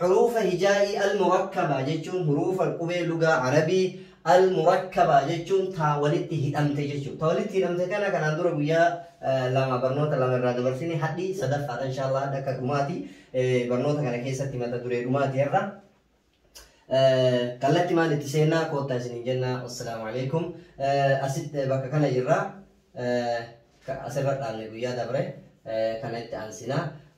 Huruufa hijaa'ii al-murakkabaa jechuun huruufa qubee lugaa Arabii al-murakkabaa jechuun ta walitti hidhamte jechuudha. Ta walitti hidhamte kana kanaan dura guyyaa lama barnoota lama irraa dabarsine hadhi sadaffaadha inshaallah hadha akka dhumaati barnoota kana keessatti mata duree dhumaati irra kallatti maan itti seennaa koottaa isiniin jenna wassalaamu alaikum asitti bakka kana jirra asirra dhaabne guyyaa dabre kana itti aansinaa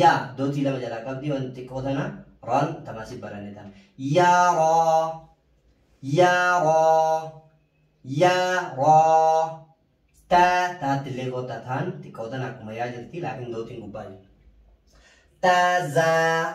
Yaa dootii lama jalaa qabdi waan xiqqoo tana raan tamaasif baranne tana. Yaa raa. Yaa raa. Yaa raa. Taa taatti illee goota taan xiqqoo tana akkuma yaa jirti laakiin dootiin gubbaa jirti. Tazaa.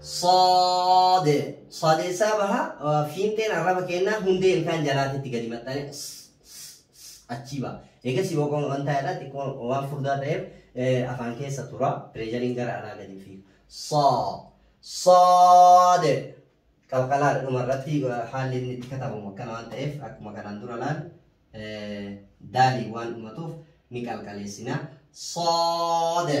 ص صادessaa baha fiinxeen arraba kennaa hundee ilkaan jalaatitti gadi maxxane achii baha. Eegasii boqoon waan ta'eedha xiqqoo waan furdaa ta'eef afaan keessa tura pireeshariin gara alaa gadi fiiga. Sa saade qalqalaa dhuma irratti haalli inni itti katabamu akkana waan ta'eef akkuma kanaan dura laal daalii waan dhumatuuf ni qalqaleessina. Saade.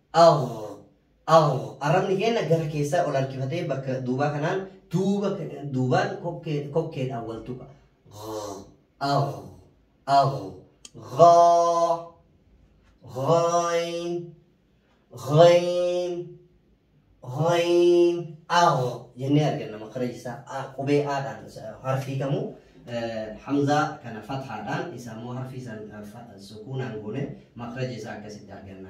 Aw, aw, arrabni keenya gara keessaa ol harkifatee bakka duubaa kanaan duuba, duubaan kokkee, kokkeedhaan wal tuqa. Gh, aw, aw, ghaa, ghayn, ghayn, ghayn, aw jennee arganna makaraji isaa A- qubee aadhaan harfii kamuu eh, hamzaa kana fathaadhaan isa immoo harfii san eh, fa- sukuunaan goone makaraji isaa akkasitti arganna.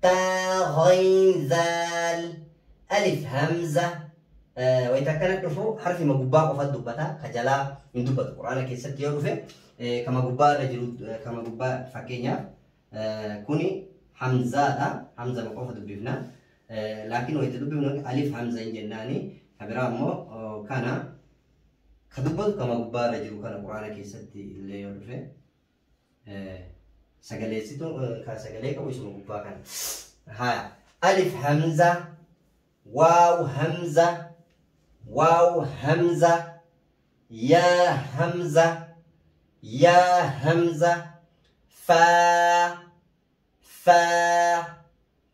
Taa, ghayn, zaal, alif, hamza. Wayita akkana dhufu harfima gubbaa qofa dubbata. Ka jalaa hin dubbatu. Quraana keessatti yoo dhufe kama gubbaa irra jiru kama gubbaa fakkeenyaaf kuni hamzaadha. Hamza qofa dubbifna. Laakiin wayita dubbifnu alif hamza hin jennaani. Ka biraa immoo kana ka dubbatu kama gubbaa irra jiru kana quraana keessatti illee yoo dhufe. Sagaleessituu kan sagalee qabu isuma gubbaa kana. Haa. Alif hamza. Waaw hamza. Waaw hamza. Yaa hamza. Yaa hamza. Faa. Faa.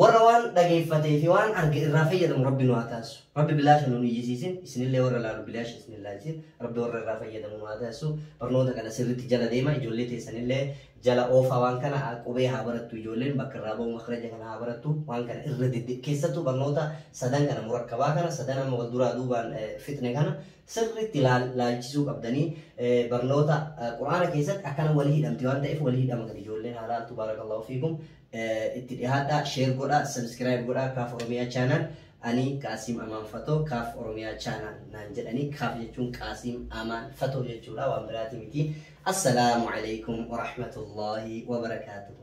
Warra waan dhageeffatee fi waan arge irraa fayyadamu Rabbi nu haa taasisu. Rabbi bilaasha nu hin iyyisiisin, isinillee warra laalu bilaasha isin hin laalchisin. Rabbi warra irraa fayyadamu nu haa taasisu. Barnoota kana sirriitti jala deema. Ijoollee teessanillee jala oofaa waan kana qubee haa barattu ijoolleen bakka irraa ba'u makraja kana haa barattu. Waan kana irra dedde keessattuu barnoota sadan kana murakkabaa kana sadan amma wal duraa duubaan eh, fixne kana sirriitti laal- laalchisuu qabdanii eh, barnoota eh, quraana keessatti akkana walii hidhamti waan ta'eef walii hidhama gadi ijoolleen haa laaltu baarakallahu fiikum. itti dhihaadhaa sheer godhaa sabiskiraayib godhaa kaaf oromiyaa chaanaal ani qaasiim amaan fatoo kaaf oromiyaa chaanaal naan jedhanii kaaf jechuun qaasiim amaan fatoo jechuudha waan biraati miti assalaamu alaikum warahmatullaahi wabarakaatuhu